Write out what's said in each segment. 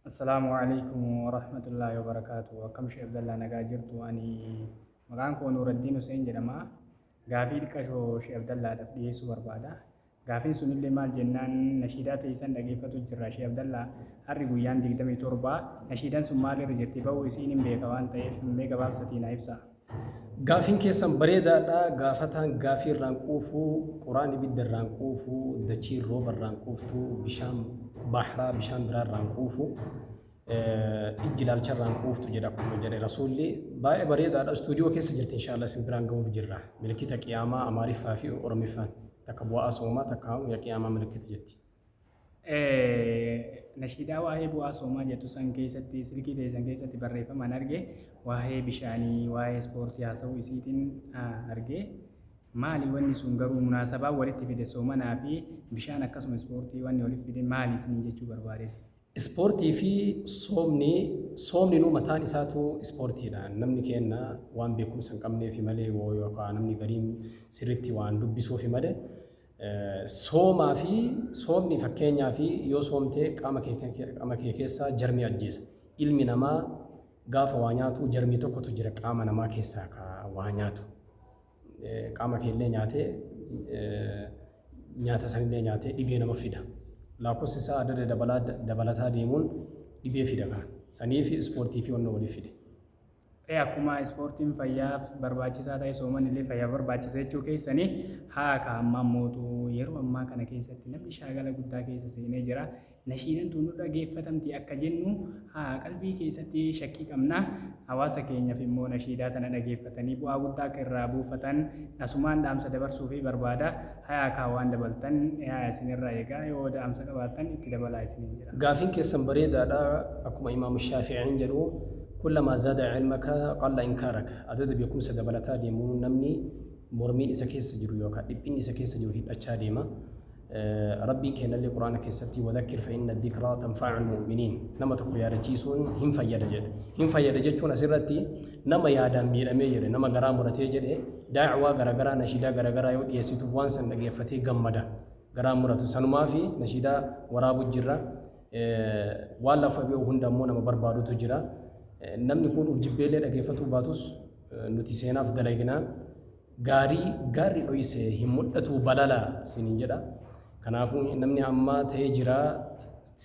Assalaamu alaikum warahmatullaahi wabarakaatu. Akkam Sheekh Abdallaa nagaa jirtu ani maqaan koo Nuuraddiin Huseen jedhama. Gaafii xiqqashoo Sheekh Abdallaadhaaf dhiyeessuu barbaada. Gaafiin sunillee maal jennaan nashiidaa teessan dhageeffatu jirra Sheekh Abdallaa harri guyyaan 27 nashiidaan sun maalirra jirti ba'uu isiin hin beeka waan ta'eef mee gabaabsatii na ibsa. Gaafiin keessan bareedaadha. Gaafataan gaafii irraan quufu, quraan ibidda irraan quufu, dachiin rooba irraan quuftu, bishaan bahraa bishaan biraa irraan quufu, eh, ijji ilaalcha irraan quuftu jedha akkuma jedhe rasuulli. Baay'ee bareedaadha. Istuudiyoo keessa jirti inshaallah isin biraan ga'uuf jirra. Milikkita qiyaamaa Amaariffaa fi Oromiffaan takka bu'aa soomaa takka yaa qiyaamaa milikkiti jetti. Nashiidaa waa'ee bu'aa soomaa jettu san keessatti silkii ta'e san keessatti barreeffamaan arge waa'ee bishaanii waa'ee ispoortii haasa'uu isiitiin arge maali wanni sun garuu munaasabaa walitti fide soomanaa fi bishaan akkasuma ispoortii wanni walitti fide maali isiniin jechuu barbaade. Ispoortii fi soomni soomninuu mataan isaatu ispoortiidha. Namni keenna waan beekumsa hin qabneefi malee woo yookaan namni gariin sirriitti waan dubbisuufi malee Soomaa fi soomni fakkeenyaa fi yoo soomtee qaama kee qaama kee keessaa jarmii ajjeesa. Ilmi namaa gaafa waa nyaatu jarmii tokkotu jira qaama namaa keessaa ka waa nyaatu. Qaama kee illee nyaatee nyaata san illee nyaatee dhibee nama fida. Lakkoofsi isaa adda adda dabalaa dabalataa deemuun dhibee fida kaan. Sanii fi ispoortii fi wanna waliif fide. Ee akkuma ispoortiin fayyaaf barbaachisaa ta'e soomanillee fayyaaf barbaachisa jechuu keessani haa ka ammaa mootu yeroo ammaa kana keessatti namni shaagala guddaa keessa seenee jira nashiidan tun nu dhageeffatamti akka jennu haa qalbii keessatti shakkii qabna hawaasa keenyaaf immoo nashiidaa tana dhageeffatanii bu'aa guddaa akka irraa buufatan asumaan dhaamsa dabarsuufi barbaada Hayaa kaa waan dabaltan eaya isin irraa egaa yoo da'amsa qabaattan itti dabalaa isiniin jedha. Gaafiin keessan bareedaadha akkuma imaamu shaafi'iin jedhu kullamaa zaada ilmaka qalla inkaaraka adada beekumsa dabalataa deemuun namni mormiin isa keessa jiru yookaan dhiphinni isa keessa jiru hidhachaa deema rabbiin keenyallee quraana keessatti wadhakkir fa'inna dhikraa tanfaa'ul mu'miniin nama tokko yaadachiisuun hin fayyada jedhe hin fayyada jechuun asirratti nama yaadaan miidhamee jedhe nama garaa muratee jedhe Da'waa garagaraa nashiidaa garagaraa yoo dhiyeessituuf waan san dhageeffatee gammada garaan muratu sanumaafi nashiidaa waraabu jirra waan lafa beeku hunda ammoo nama barbaadutu jira namni kun uf jibbeellee dhageeffatuu baatus nuti seenaaf dalagnaa gaarii gaarri dhoyse hin mudhatuu balala sinin jedha Kanaafuu namni ammaa ta'ee jiraa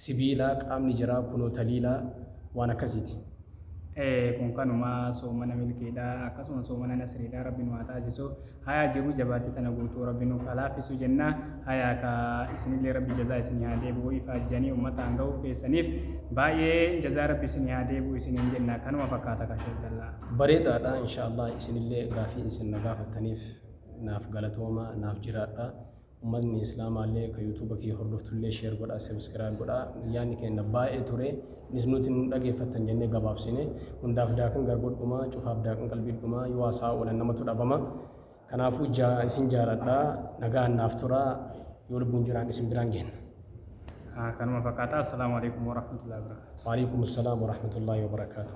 sibiilaa qaamni jaraa kunoo taliilaa waan akkasiiti. Ee kun kanuma soomana milkiidha akkasuma soomana nasriidha rabbi nu haa taasisu hayaa jiruu jabaatti tana guutuu rabbi nuuf haa laaffisu jenna hayaa ka isinillee rabbi jazaa isinii haa deebi'u ifaajjanii ummataan ga'uuf keessaniif baay'ee jazaa rabbi isinii haa deebi'u isiniin jenna kanuma fakkaata ka sheek dallaa. Bareedaadha inshaa Allah isinillee gaafii isin na gaafattaniif naaf galatooma naaf jiraadha. Ummatni islaamaallee ka youtube kiyya hordoftullee share godhaa subscribe godhaa yaanni keenna baay'ee ture nisnuuti nu dhageeffattan jennee gabaabsine hundaaf daakan garboodhuma cufaaf daakan qalbiidhuma yoo haasa'aa oolan namatu dhabama kanaafuu ja isin jaaladha nagaan naaf tura yoo lubbuun jiraan isin biraan geenna Haa kanuma fakkaata. Assalaamu alaikum warahmatullahi wabarakaatu. Waalaikum salaam warahmatullahi wabarakaatu.